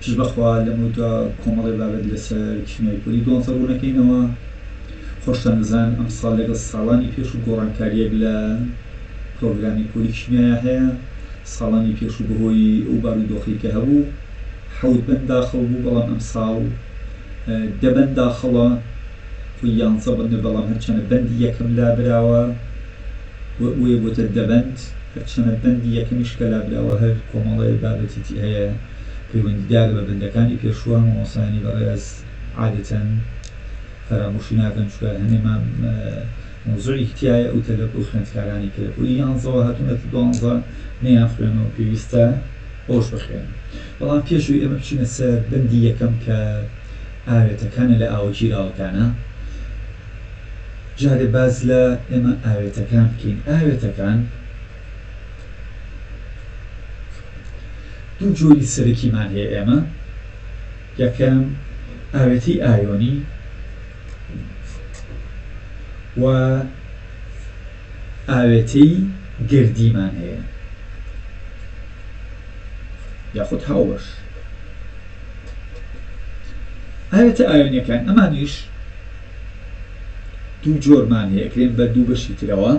پشت بەخوا لەمەو دوا کۆمەڵێ بابەت لەسەر کیمیای پۆلی دوانزە ڕوونەکەینەوە خۆشتان دەزان ئەمساڵ لەگەڵ ساڵانی پێشوو گۆڕانکاریەک لە پرۆگرامی پۆلی کیمیایا هەیە ساڵانی پێشوو بەهۆی ئەو بارو دۆخی کە هەبوو حەوت بەند داخڵ بوو بەڵام ئەمساڵ دەبەن داخڵە خۆی یانزە بەندە بەڵام هەرچەنە بەندی یەکەم لابراوە و بۆیە بۆتە دە بەند، هەرچەنە بەندی یەکەمیش کە لابراوە هەر کۆمەڵەی بابەتی تێ هەیە پەیوەندیدارە بە بەندەکانی پێشووە، مامۆستایانی بەڕێز عادەتەن فەرامۆشی ناکەن چونکە هەنێ مەوزوعێکی تیایە ئەو تەلەب ئەو خوێندکارانەی کە لە پۆلی یانزەوە هاتوونەتە دوانزە نەیان خوێنەوە پێویستە ئەوش بخوێنن بەڵام پێش ئەوی ئێمە بچینە سەر بەندی یەکەم کە ئاوێتەکانە لە ئاوە گیراوەکانە جارێ باس لە ئێمە ئاوێتەکان بکەین، ئاوێتەکان دوو جۆری سەرەکیمان هەیە ئێمە، یەکەم ئاوێتەی ئایۆنی و ئاوێتەی گەردیمان هەیە یاخود هاوبەش ئاوێتە ئایۆنیەکان ئەمانیش دوو جۆرمان هەیە ئەکرێن بە دوو بەشی ترەوە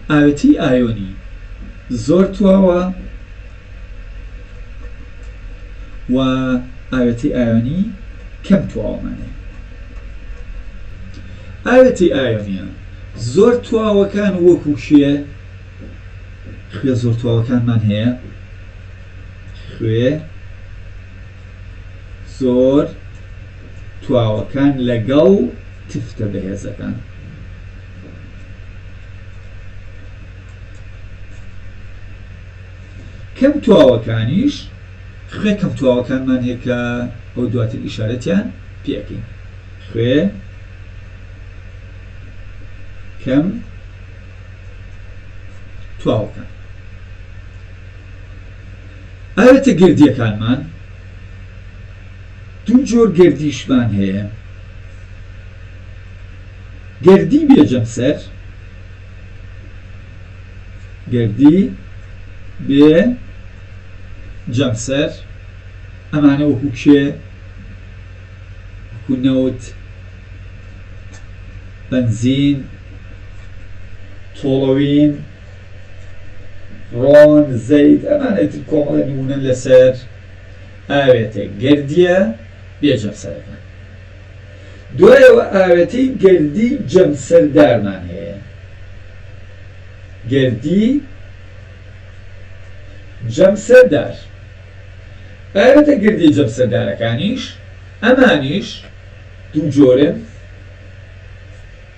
ئاوێتەی ئایۆنی زۆر تواوە و ئاوێتەی ئایۆنی کەم تواوەمانەیە ئاوێتەی ئایۆنیە زۆر تواوەکان وەکو کێ خوێ زۆر تواوەکانمان هەیە خوێ زۆر تواوەکان لەگەڵ تفتە بەهێزەکان. کەم تواوەکانیش خوێ کەم تواوەکانمان هەیە کە ئەو دواتر ئیشارەتیان پێ ئەکەین خوێ کەم تواوەکان ئاوێتە گردیەکانمان دوو جۆر گەردیشمان هەیە، گەردی بێ جەمسەر، گەردی بێ جەمسەر، ئەمانە وەکو کێ؟ وەکو نەوت، بەنزین، تۆڵەوین، ڕۆن، زەیت، ئەمانە ئیتر کۆمەڵێ نموونەن لەسەر. ئاوێتە گەردییە بێ جەمسەرەکان. دوایەوە ئاوێتەی گەردی جەمسەردارمان هەیە. گەردی جەمسەردار. ئاوێتە گەردییە جەمسەردارەکانیش ئەمانیش دوو جۆرن.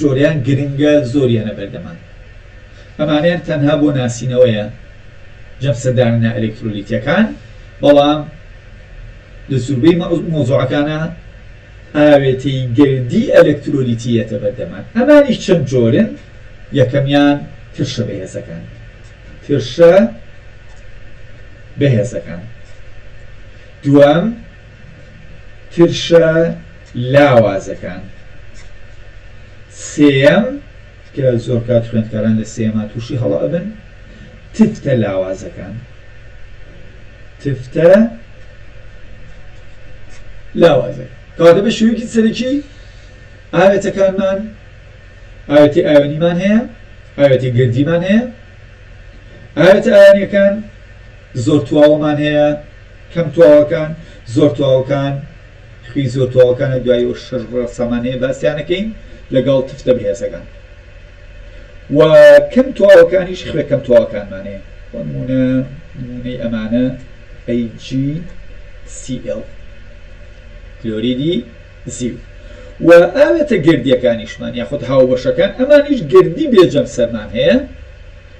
جۆریان گرنگە زۆر یەنە بەردەمان ئەمانەیان تەنها بۆ ناسینەوەیە جەمسە داننە ئەلەکترۆلیتەکان بەڵام لە زوربەی مەوزوعەکانە ئاوێتەی گەردی ئەلەکترۆلیتی یەتە بەردەمان ئەمانیش چەند جۆرن یەکەمیان ترشە بەهێزەکان ترشە بەهێزەکان دوام ترشە لاوازەکان سێیەم کە زۆر کات خوێندکاران لە سێما تووشی هەڵە ئەبن تفتە لاوازەکان تفتە لاوازە کاتە بە شوێنکی سەرەکی ئاوێتەکانمان ئاوێتی ئاوێنیمان هەیە ئاوێتی گردیمان هەیە ئاوێتە ئاوێنیەکان زۆر تواوەمان هەیە کەم تواوەکان، زۆر تواوەکان، خوی زۆر تواوەکانە دوای ئەو شەش ڕەسەمان هەیە باسیان ئەکەین لەگەڵ تفتە بەهێزەکان و کەم تواوەکانیش خوێ کەم تواوەکانمان هەیە بۆ نمونە نمونەی ئەمانە AgCl کلۆریدی زیو و ئاوێتە گردیەکانیشمان یاخود هاوبەشەکان ئەمانیش گردی بێ جەمسەرمان هەیە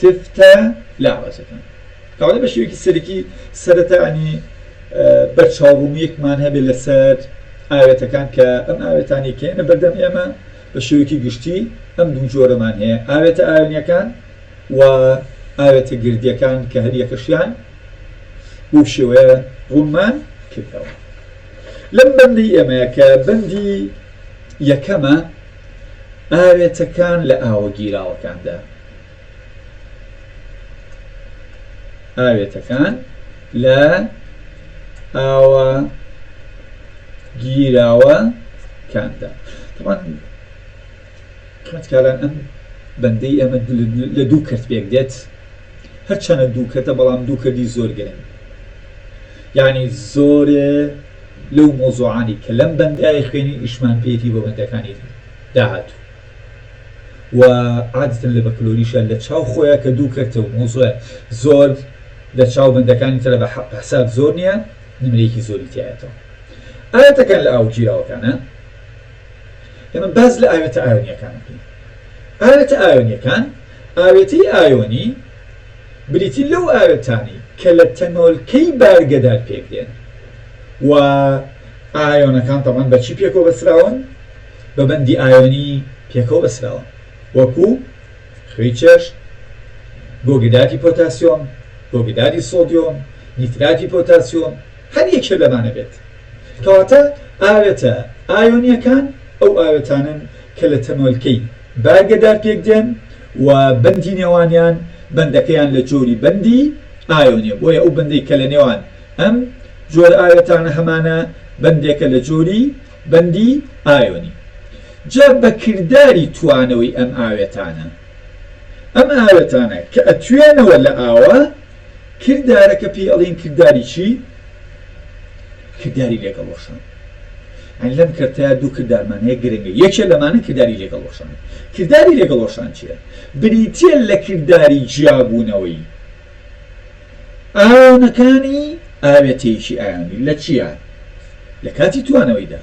تفتە لاوازەکان ئەوانەی بە شێوەیەکی سەرەکی سەرەتانی بەرچاوڕوونییەکمان هەبێت لەسەر ئاوێتەکان کە ئەم ئاوێتانەی کە هێنە بەردەم ئێمە بە شێوەیەکی گشتی ئەم دوو جۆرەمان هەیە ئاوێتە ئاوێنەکان و ئاوێتە گردیەکان کە هەریەکەشیان بەو شێوەیە ڕوونمان کردەوە لەم بەندەی ئێمە کە بەندی یەکەمە ئاوێتەکان لە ئاوە گیراوەکاندا ئاوێتەکان لە ئاوە گیراوە کاندا طبعا خوێندکاران ئەم بەندەی ئێمە لە دوو کەرت پێک دێت هەرچەنە دوو کەتە بەڵام دوو کردی زۆر گرنگ یعنی زۆرێ لەو مۆزوعانی کە لەم بەندایە خوێنی ئیشمان پێێتی بۆ بەندەکانی داهاتوو و عادەتەن لە بەکلۆریشە لە چاو خۆیە کە دوو کەرتە و مەوزوعە زۆر لە چاو بەندەکانی ترە بە حساب زۆر نیە نمرەیەکی زۆری تیایەتەوە ئاوێتەکان لە ئاو گیراوەکانە ئێمە باز لە ئاوێتە ئاوێنیەکان بکەین ئاوێتە ئاوێنیەکان ئاوێتەی ئاۆنی بریتی لەو ئاوێتانی کە لە تەنۆلکەی بارگەدار پێکدێن و ئاۆنەکان تەمان بەچی پێکەوە بەسراون بە بەندی ئایۆنی پێکەوە بەستراوە وەکو، خوێی چێشت، گۆگدادی پۆتاسیۆم، گۆگدادی سۆدیۆم، نیتراتی پۆتاسیۆم، هەر یەکێ لەمانە بێت. کەواتە ئاوێتە ئایۆنییەکان ئەو ئاوێتانەن کە لە تەنۆلکەی بارگەدار پێکدێن و بەندی نێوانیان بەندەکەیان لە جۆری بەندی ئایۆنییە بۆیە ئەو بەندەی کە لە نێوان ئەم جۆرە ئاوێتانە هەمانە بەندێکە لە جۆری بەندی ئایۆنی جا بە کرداری توانەوەی ئەم ئاوێتانە ئەم ئاوێتانە کە ئەتوێنەوە لە ئاوا کردارەکە پێی ئەڵێن کرداری چی کرداری لەگەڵ وەشان ئەن لەم کەرتەیە دوو کردارمان هەیە گرنگە یەکێ لەمانە کرداری لەگەڵ وەشان کرداری لەگەڵ وەشان چیە بریتیە لە کرداری جیابوونەوەی ئایۆنەکانی ئاوێتەیەکی ئایۆنی لە چیا لە کاتی توانەوەیدا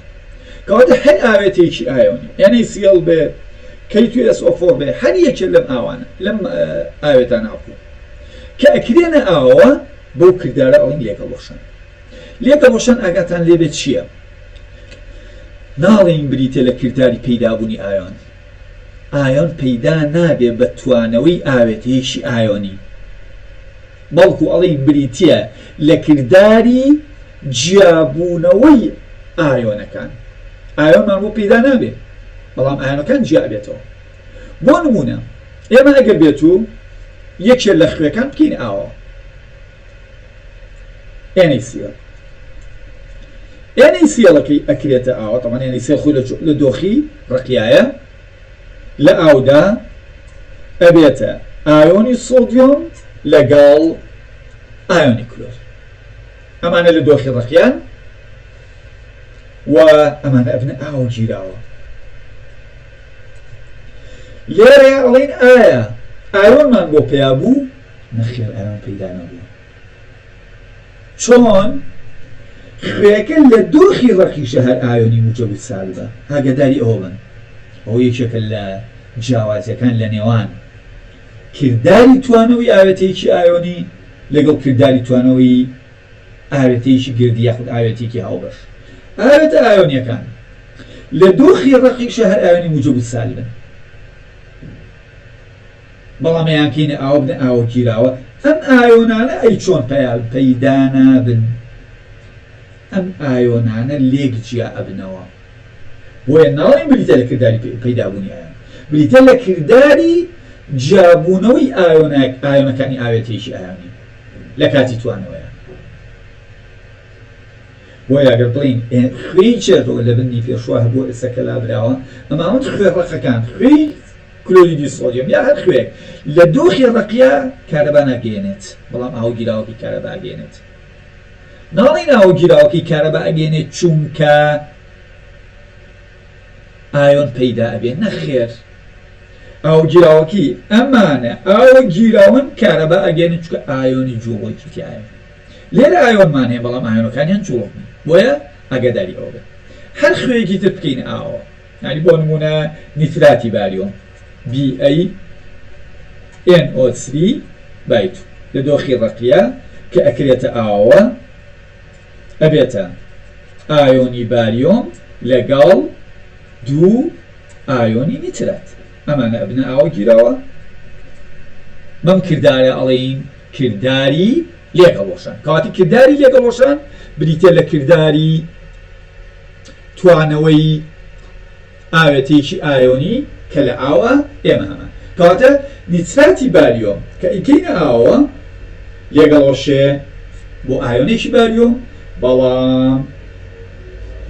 کەواتە هەر ئاوێتەیەکی ئایۆنی NaCl بێ K2SO4 بێ هەر یەکێ لەم ئاوانە لەم ئاوێتانە ئەقوم کە ئەکرێنە ئاوە بەو کردارە ئەڵین لێکە ڕۆشن لێکە ڕۆشن ئاگاتان لێبێت چییە ناڵین بریتە لە کرداری پەیدابوونی ئایۆن ئایۆن پەیدا نابێ بە توانەوەی ئاوێتەیەکی ئایۆنی، بەڵکو ئەڵێین بریتییە لە کرداری جیابوونەوەی ئایۆنەکان. ئایۆنمان بۆ پەیدا نابێ، بەڵام ئایۆنەکان جیا ئەبێتەوە. بۆ نموونە ئێمە ئەگەر بێتوو یەکێ لە خوێکان بکەین ئاوە. NaCl NaCl ەکەی ئەکرێتە ئاوە طبعا NaCl خۆی لە دۆخی ڕقیایە لە ئاودا ئەبێتە ئایۆنی سۆدیۆم لەگەڵ ئایۆنی کلۆر ئەمانە لە دۆخی ڕقیان و ئەمانە ئەبنە ئاو گیراوە لێرەیە ئەڵین ئایا ئایۆنمان بۆ پیا بوو نەخێر ئەرام پەیدا نەبوو چۆن خوێکە لە دۆخی ڕەقی شەهر ئایۆنی موچە بچسالبە ئاگەداری ئەوە بن ئەوە یەکێکە لە جیاوازیەکان لە نێوان کرداری توانەوەی ئاوێتەیەکی ئایۆنی لەگەڵ کرداری توانەوەی ئاوێتەیەکی گردی یاخود ئاوێتەیەکی هاوبەش ئاوێتە ئایۆنیەکان لە دۆخی ڕەقی شەهر ئایۆنی موجە بچسالبن بەڵام ئەیانکەینە ئاوە بنە ئاوە گیراوە ئەم ئایۆنانە ئەی چۆن پەیال پەیدا نابن ئەم ئایۆنانە لێک جیا ئەبنەوە بۆیە ناڵێین بریتە لە کرداری پەیدا بوونی ئایۆن بریتە لە کرداری جیا بوونەوەی ئایۆنەک ئایۆنەکانی ئاوێتەیەکی ئایۆنی لە کاتی توانەوەیان بۆیە ئەگەر بڵین خوێی چێتەوە لە بنی پێشوە هەبووە ئێستا کەلابراوە ئەماوەند خوێ ڕەقەکان خوێی کلۆریدی سۆدیۆم یا هەر خوێیەک لە دۆخی ڕەقیە کارەبا ناگەیەنێت بەڵام ئاوە گیراوەکەی کارەبا ئەگەیەنێت ناڵێین ئاوە گیراوەکەی کارەبا ئەگەیەنێت چوونکە ئایۆن پەیدا ئەبێت نەخێر ئاوە گیراوەکەی ئەمانە ئاوە گیراون کارەبا ئەگەیەنێت چوونکە ئایۆنی جووڵۆکی تیایە لێرە ئایۆنمان هەیە بەڵام ئایۆنەکانیان جووڵۆک نین بۆیە ئاگاداری ئەوە بن هەر خوێیەکی تر بکەین ئاوە یانی بۆ نموونە نیتراتی باریۆم، BaNO3 بای تو، لە دۆخی ڕەقیە کە ئەکرێتە ئاوەوە ئەبێتە ئایۆنی باریۆم لەگەڵ دوو ئایۆنی نیترات ئەمانە ئەبنە ئاوە گیراوە بەم کردارە ئەڵێین کرداری لێکهەڵوەشان، کەواتە کرداری لێکهەڵوەشان بریتییە لە کرداری توانەوەی ئاوێتەیەکی ئایۆنی کە لە ئاوە، ئێمە هەمان، کەواتە نیتراتی باریۆم کە ئەیکەینە ئاوەوە لێکهەڵوەشێ بۆ ئایۆنێکی باریۆم، بەڵام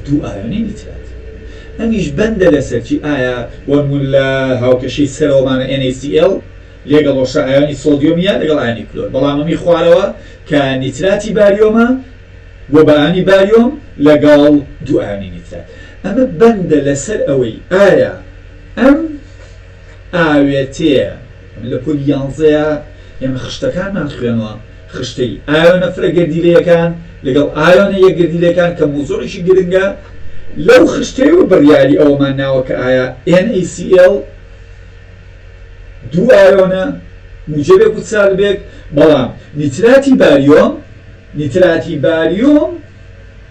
دوو ئایۆنی نیترات ئەمیش بەندە لەسەر چی، ئایا بۆ نموونە لە هاوکێشەی سەرەوەمانە NaCl لێگەڵۆشە ئایۆنی سۆدیۆم یە لەگەڵ ئایۆنی کلۆر بەڵام ئەمی خوارەوە کە نیتراتی باریۆمە بۆ بە ئایۆنی باریۆم لەگەڵ دوو ئایۆنی نیترات ئەمە بەندە لەسەر ئەوەی ئایا ئەم ئاوێتەیە ئەمە لە پۆلی یانزەیە ئێمە خشتەکانمان خوێنوە خشتەی ئایۆنە فرە گەردیلەیەکان لەگەڵ ئایۆنە یەک گەردیلەکان کە موزوعیشی گرنگە لەو خشتەیەوە بڕیاری ئەوەمان ناوە کە ئایا NaCl دوو ئایۆنە موجەبێک و سالبێک، بەڵام نیتراتی باریۆم نیتراتی باریۆم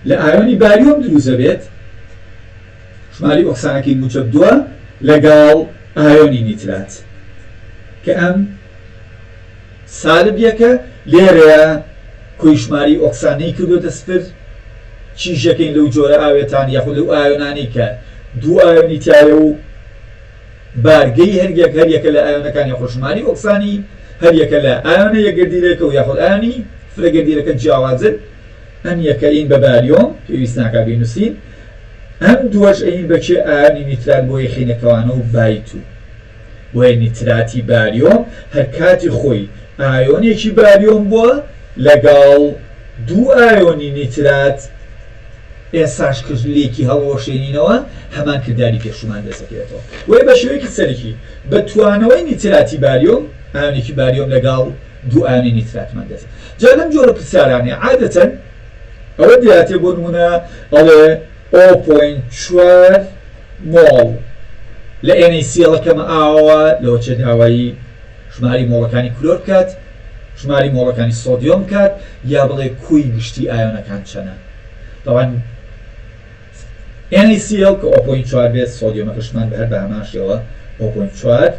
لە ئایۆنی باریۆم دروست دەبێت، ژمارەی ئۆکسانەکەی موجەب دووە لەگەڵ ئایۆنی نیترات کە ئەم سالب یەکە، لێرەیا کۆی ژمارەی ئۆکسانەی کردۆتە سفر، چی ژەکەین لەو جۆرە ئاوێتان یاخود لەو ئایۆنانەی کە دوو ئایۆنی تیایە و. بارگەی هەریەک هەریەکە لە ئایۆنەکانی هۆشمانی ئۆکسانی هەریەکە لە ئایۆنە یەکگردیلەکە و یاخود ئایۆنی فرەگردیلەکە جیاوازن ئەم یەکە ین بە باریۆم پێویست ناکا بینوسین ئەم دووەش ین بە کێ ئایۆنی نیترات بۆ یەخینە کەوانە و بایت و بۆیە نیتراتی باریۆم هەر کاتی خۆی ئایۆنێکی باریۆم بووە لەگەڵ دوو ئایۆنی نیترات ئێستاش کە لێکی هەڵوەشێنینەوە هەمان کرداری پێشوومان دەسدەکەوێتەوە وەی بە شێوەیەکی سەرەکی بە توانەوەی نیتراتی باریۆم ئایۆنێکی باریۆم لەگاڵ دوو ئایۆنی نیتراتمان دەست جا لەم جۆرە پرسیارانەی عادەتەن ئەوە دیاتێ بۆ نمونە ئەڵێ ئۆ پۆین چوار مۆڵ لە ئێنەی سیەڵەکەمە ئاوە لەوە چێ داوایی ژماری مۆڵەکانی کلۆر بکات ژماری مۆڵەکانی سۆدیۆم بکات یا بڵێ کوی گشتی ئایۆنەکان چەنە تاوان NaCl کە ئۆ پۆینت چوار بێت سۆدیۆمەکەشمان بە هەر بە هەمان شێوە ئۆ پۆینت چوار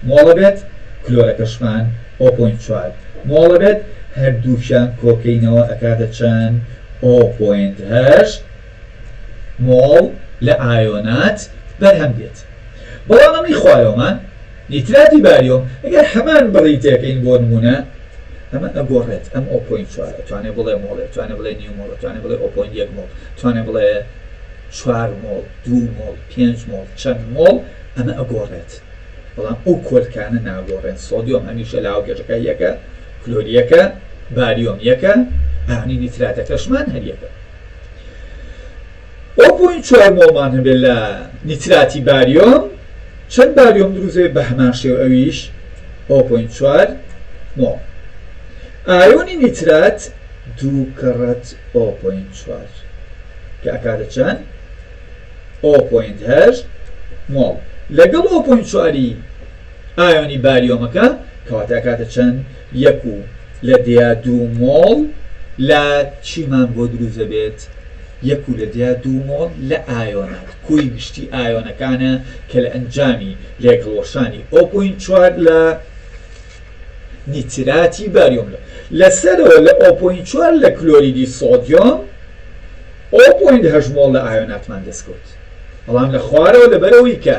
مۆڵە بێت کلۆرەکەشمان ئۆ پۆینت چوار مۆڵە بێت هەردووکیان کۆکەینەوە ئەکاتە چەن ئۆ پۆینت هەشت مۆڵ لە ئایۆنات بەرهەم دێت بەڵام ئەمەی خوارەوەمان نیتراتی باریۆم ئەگەر هەمان بڕی تێکەین بۆ نموونە ئەمە ئەگۆڕێت ئەم ئەو پۆینت چوارە توانێ بڵێ مۆڵێ توانێ بڵێ نیو مۆڵە توانێ بڵێ ئەو پۆینت یەک مۆڵ توانێ بڵێ چوار مۆڵ دوو مۆڵ پێنج مۆڵ چەند مۆڵ ئەمە ئەگۆڕێت بەڵام ئەو کۆلکانە ناگۆڕێن سۆدیۆم هەمیشە لە هاوکێشەکە یەکە کلۆری یەکە باریۆم یەکە ئاونی نیتراتەکەشمان هەر یەکە. ئۆ پۆینت چوار مۆڵمان هەبێت لە نیتراتی باریۆم چەند باریۆم دروست دەبێت بە هەمان شێوە ئەویش ئۆ پۆینت چوار مۆڵ ئایۆنی نیترات دوو کەڕەت ئۆ پۆینت چوار کە ئەکاتە چەند ئۆ پۆینت هەشت مۆڵ لەگەڵ ئۆ پۆینت چواری ئایۆنی باریۆمەکە کەواتە ئەکاتە چەند یەک و لە دیا دوو مۆڵ لە چیمان بۆ دروست دەبێت؟ یەک و لە دیا دوو مۆڵ لە ئایۆنات کۆی گشتی ئایۆنەکانە کە لە ئەنجامی لێکهەڵوەشانی ئۆ پۆینت چوار لە نیتراتی باریۆم لە لە سەرەوە لە ئۆ پۆینت چوار لە کلۆریدی سۆدیۆم ئۆ پۆینت هەشت مۆڵ لە ئایۆناتمان دەست کەوت بەڵام لە خوارەوە لە بەرەوەی کە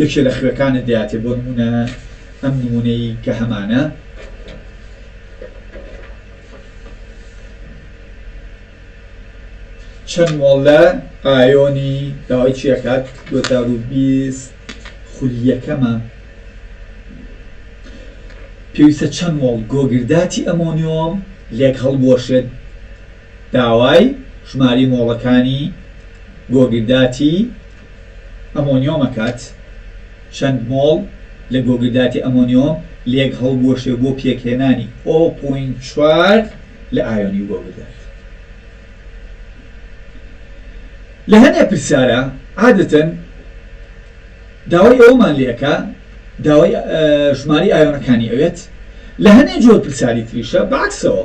یەکێ لە خوێکانت دەیاتێ بۆ نموونە ئەم نموونەی کە هەمانە. چەند مۆڵە ئایۆنی داوای چیەکات 2020 خولیەکەمە پێویستە چەند مۆڵ گۆگرداتی ئەمۆنیۆم لێک هەڵبوەشێت داوای ژماری مۆڵەکانی گۆگرداتی ئەمۆنیۆم ئەکات، چەند مۆڵ لە گۆگرداتی ئەمۆنیۆم لێک هەڵبوەشێ بۆ پێکهێنانی ئۆ پۆینت چوار لە ئایۆنی گۆگردات. لە هەنێ پرسیارا عادەتەن داوای ئەوەمان لێ ئەکا داوای ژمارەی ئایۆنەکانی ئەوێت، لە هەنێ جۆر پرسیاری تریشا بە عەکسەوە.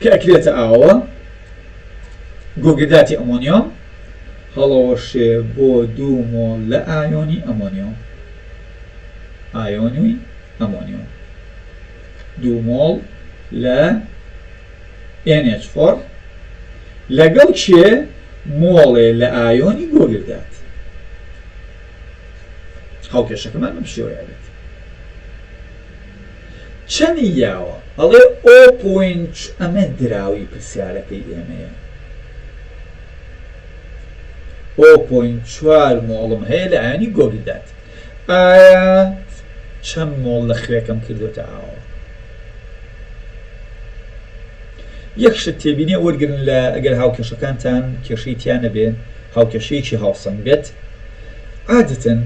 کە ئەکرێتە ئاوە گۆگرداتی ئەمۆنیۆم هەڵەوەشێ بۆ دوو مۆڵ لە ئایۆنی ئەمۆنیۆم ئایۆنی ئەمۆنیۆم دوو مۆڵ لە NH4 لەگەڵ چێ مۆڵێ لە ئایۆنی گۆگردات هاوکێشەکەمان بەم شێوەیە بێت چەنی یاوە ئەڵێ ئۆپۆینچ ئەمە دراوی پرسیارەکەی ئێمەیە ئۆپۆینت چوار مۆڵم هەیە لە ئاوێنی گۆگی دات ئایا چەند مۆڵ لە خوێکەم کردوتە ئاوە یەک شت تێبینی وەرگن لە ئەگەر هاوکێشەکانتان کێشەی تیانە بێ هاوکێشەیەکی هاوسەنگ بێت عادەتەن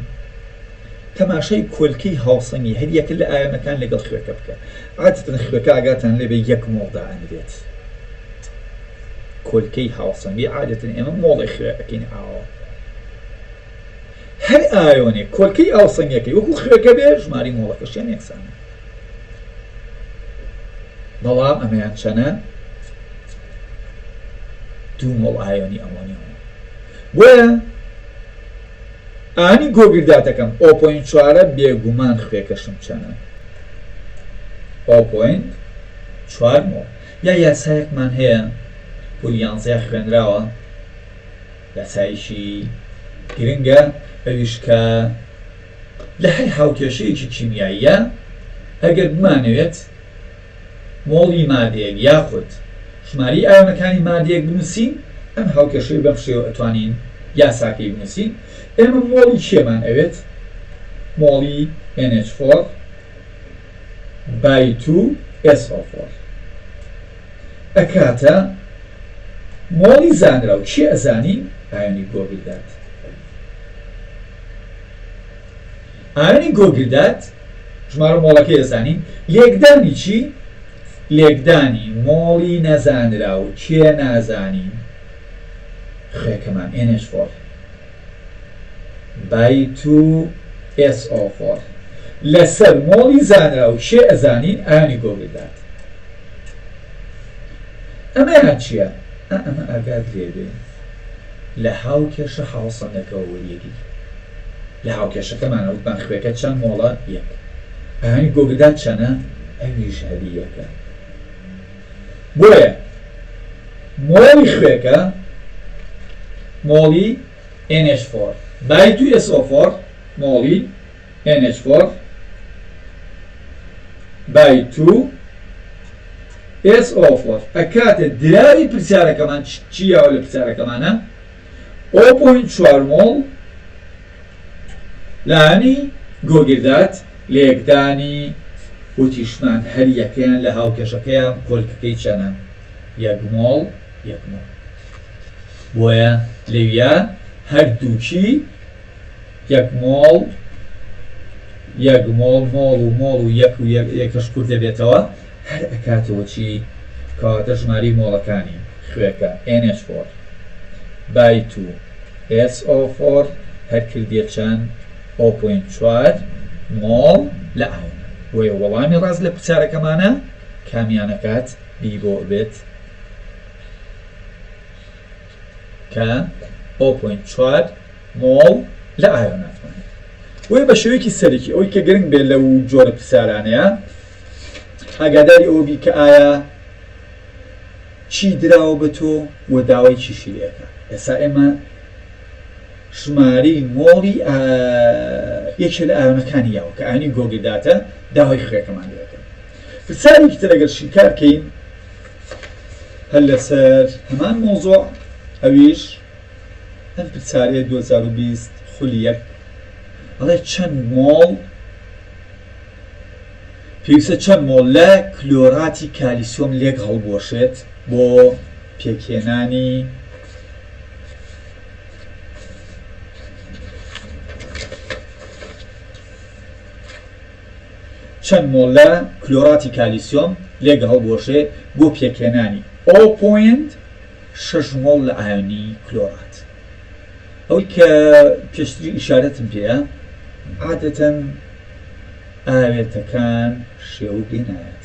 تەماشای کۆلکەی هاوسەنگی هەر یەکە لە ئایۆنەکان لەگەڵ خوێکە بکە عادەتەن خوێکە ئاگاتان لێ بێ یەک مۆڵ دائەنرێت کۆلکەی هاوسەنگی عادەتەن ئێمە مۆڵێ خوێ ئەکەین ئاوە هەر ئایۆنێک کۆلکەی ئاوسەنگەکەی وەکو خوێکە بێ ژماری مۆڵەکەشیان یەکسانە بەڵام ئەمەیان چەنە دوو مۆڵ ئایۆنی ئەمۆنیۆم بۆیە ئانی گۆگرداتەکەم ئۆپۆین چوارە بێگومان خوێکەشم چەنە ئۆپۆین چوار مۆ یا یاسایەکمان هەیە پۆلی یانزەیا خوێنراوە یاسایەکی گرنگە ئەویش کە لە هەر هاوکێشەیەکی کیمیاییا ئەگەر بمانەوێت مۆڵی مادەیەک یاخود ژمارەی ئایۆنەکانی مادەیەک بنووسین، ئەم هاوکێشەی بەم شێوە ئەتوانین یاساکەی بنووسین، ئێمە مۆڵی کێمان ئەوێت؟ مۆڵی NH4 by 2SO4 ئەکاتە مۆڵی زانراو، کێ ئەزانی ئایۆنی گۆگردات؟ ئایۆنی گۆگردات. ژمارە مۆڵەکەی ئەزانین لێکدانی چی؟ لێکدانی مۆڵی نەزانراو کێ نازانین؟ خوێکەمان NH4 بای 2 SO4 لەسەر مۆڵی زانراو کێ ئەزانین ئانی گۆگل دات ئەمەیان چییە؟ ئەمە ئاگات لێبێ لە هاوکێشە هاوسەنگەکەەوە وەریەگری لە هاوکێشەکەمانا وتمان خوێکە چەند مۆڵە یەک ئەهەنگی گۆگردا چەنە ئەویش هەلی یەکە بۆیە مۆڵی خوێکە مۆڵی NH4 بای 2SO4 مۆڵی NH4 بای 2SO4 ئەکاتە دراوی پرسیارەکەمان چی یاوە لە پرسیارەکەمانە ئۆ پۆینت چوار مۆڵ لانی گۆگردات لەیەکدانی وتیشمان هەر یەکەیان لە هاوکێشەکەیان کۆلکەکەی چەنە یەک مۆڵ یەک مۆڵ بۆیە لەویا هەردووکی یەک مۆڵ یەک مۆڵ مۆڵ و مۆڵ و یەک و یەکەش کورت دەبێتەوە هەر ئەکاتەوە چی؟ کەواتە ژمارەی مۆڵەکانی خوێکە NH فۆر بای تو SO فۆر هەر کردیە چەند؟ ئۆ پۆینت چوار مۆڵ لە ئاودا بۆیە وەڵامی ڕاست لە پرسیارەکەمانە کامیان ئەکات بی بۆ ئەبێت؟ کە ئەو پۆینت چوار مۆڵ لە ئایۆن ئەتوانێت بۆیە بە شێوەیەکی سەرەکی ئەوەی کە گرنگ بێت لەو جۆرە پرسیارانەیە ئاگاداری ئەوە بی کە ئایا چی دراوە بە تۆ و داوای چیشی لێ ئەکا ئێسا ئێمە ژمارەی مۆڵی یەکێ لە ئایۆنەکانی یاوە کە ئاینی گۆگرداتە داوای خوێکەمان لێ ئەکا پرسیارێکی تر ئەگەر شیکار کەین هەر لەسەر هەمان مەوزوع ئەویش ئەم پرسیارەیە دوو هەزار و بیست خولی یەک ئەڵێ چەند مۆڵ پێویستە چەند مۆڵ لە کلۆراتی کالیسۆم لێک هەڵبوەشێت بۆ پێکهێنانی چەند مۆڵ لە کلۆراتی کالیسیۆم لێک هەڵبوەشێ بۆ پێکهێنانی ئۆ پۆینت شەش مۆڵ لە ئایۆنی کلۆرات. ئەوەی کە پێشتری ئیشارەتم پێە عادەتەن ئاوێتەکان شێوک لێ نایەت.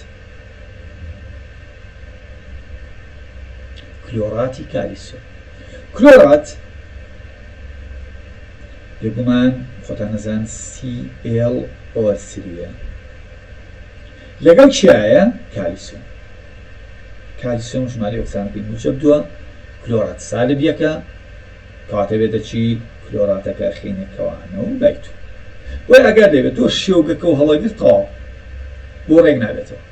کلۆراتی کالیسیۆم. کلۆرات، بێگومان خۆتان ئەزان ClO سریە، لەگەڵ چیایە؟ کالیسۆم، کالیسۆم ژمارەی ئۆکسانەکەی موجەب دووە، کلۆرات سالب یەکە، کەواتە بێتە چی؟ کلۆراتەکە ئەخەینە کەوانە و لای تۆ بۆیە ئاگات لێبێت تۆ شێوگەکە و هەڵەگرت تەواو بۆ ڕێک نابێتەوە.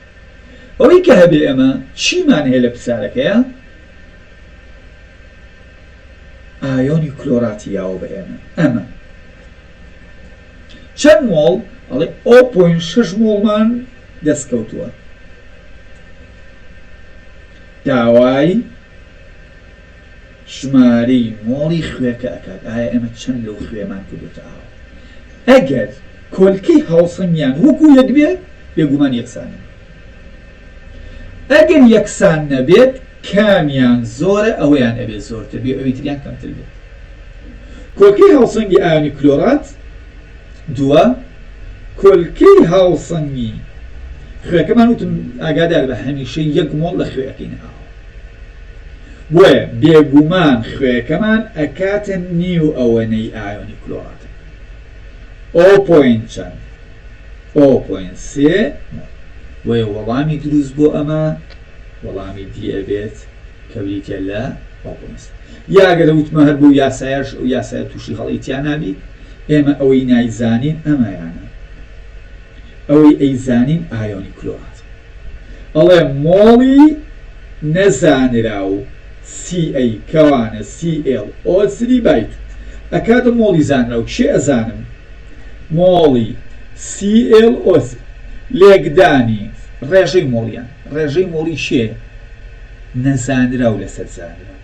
ئەوەی کە هەبێ ئێمە چیمان هەیە لە پرسارەکەیا ئایۆنی کلۆراتی یاوە بە ئێمە ئەمە چەند مۆڵ ئەڵێ ئەو پۆین شش مۆڵمان دەست کەوتووە داوای ژمارەی مۆڵی خوێکە ئەکات ئایا ئێمە چەند لەو خوێمان کردۆتە ئاو ئەگەر کۆلکەی هاوسەنگیان وەکو یەک بێت بێگومان یەکسانن ئەگەر یەکسان نەبێت کامیان زۆرە ئەویان ئەبێت زۆرتر بێ ئەوی تریان کەمتر بێت کۆلکەی هاوسەنگی ئایۆنی کلۆرات دووە کۆلکەی هاوسەنگی خوێکەمان وتم ئاگادار بە هەمیشە یەک مۆڵ لە خوێ ئەکەینە ئاو بۆیە بێگومان خوێکەمان ئەکاتە نیو ئەوەنەی ئایۆنی کلۆراتە ئۆ پۆینت چەند ئۆ پۆینت سێ مۆل بۆیە وەڵامی دروست بۆ ئەمە وەڵامی دی ئەبێت کە بریتیە لە ئۆ پۆینت سێ یا گەر وتمە هەر بەو یاسایەش ئەو یاسایە توشی هەڵەی تیا نابیت ئێمە ئەوەی نایزانین ئەمەیانە ئەوەی ئەیزانین ئایۆنی کلۆراتە ئەڵێ مۆڵی نەزانراو سی ئەی کەوانە سی ئێڵ ئۆ سری بایت ئەکاتە مۆڵی زانراو کێ ئەزانم مۆڵی سی ئێڵ ئۆ لێکدانی ڕێژەی مۆڵیان ڕێژەی مۆڵی کێ نەزانراو لەسەر زانراو.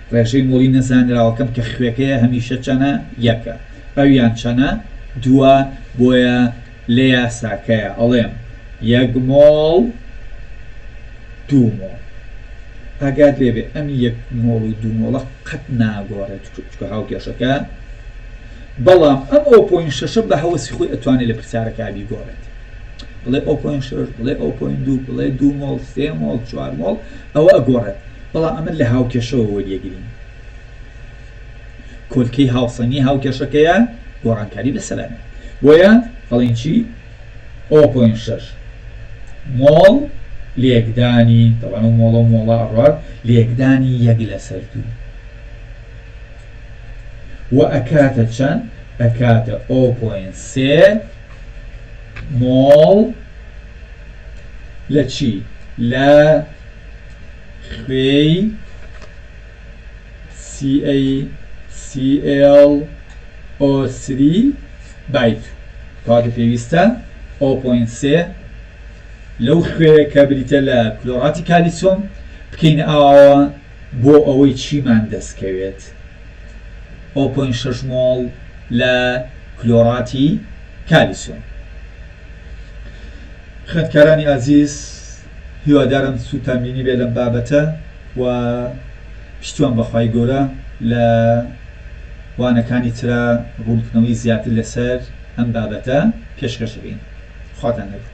ڕێژەی مۆڵی نەزانراوەکەم کە خوێکەیە هەمیشە چەنە؟ یەکە ئەو یان چەنە؟ دووە بۆیە لە یاساکەیا ئەڵێم یەک مۆڵ دوو مۆڵ ئاگات لێبێ ئەم یەک مۆڵ و دوو مۆڵە قەت ناگۆڕێت چونکە هاوکێشەکە بەڵام ئەم ئەو پۆین شەشە بە هەوەسی خۆی ئەتوانێت لە پرسیارەکە بیگۆڕێت بڵێ ئەو پۆین شەش بڵێ ئەو پۆین دوو بڵێ دوو مۆڵ سێ مۆڵ چوار مۆڵ ئەوە ئەگۆڕێت بەڵام ئەمە لە هاوکێشەوە وەریەگرین کۆلکەی هاوسەنگی هاوکێشەکەیە گۆڕانکاری لە سەلامێ بۆیە ئەڵین چی ئەو پۆین شەش مۆڵ لێکدانی دەڵان و مۆڵە و مۆڵە ئەڕات لێکدانی یەک لەسەر دوو و ئەکاتە چەند ئەکاتە ئۆ پۆین سێ مۆڵ لە چی لە خوێی CaCl O3 بایت کەواتە پێویستە O پۆینت سێ لەو خوێیە کە بریتە لە کلۆراتی کالیسۆم بکەینە ئاوەوە بۆ ئەوەی چیمان دەست کەوێت O پۆینت شەش مۆڵ لە کلۆراتی کالیسۆم. خوێندکارانی ئازیز. هیوادارم سوودتان بینیبێ لەم بابەتە و پشتیوان بە خوای گەورە لە وانەکانی ترا ڕوونکردنەوەی زیاتر لەسەر ئەم بابەتە پێشکەش ئەکەین. خواتان لەگەڵ.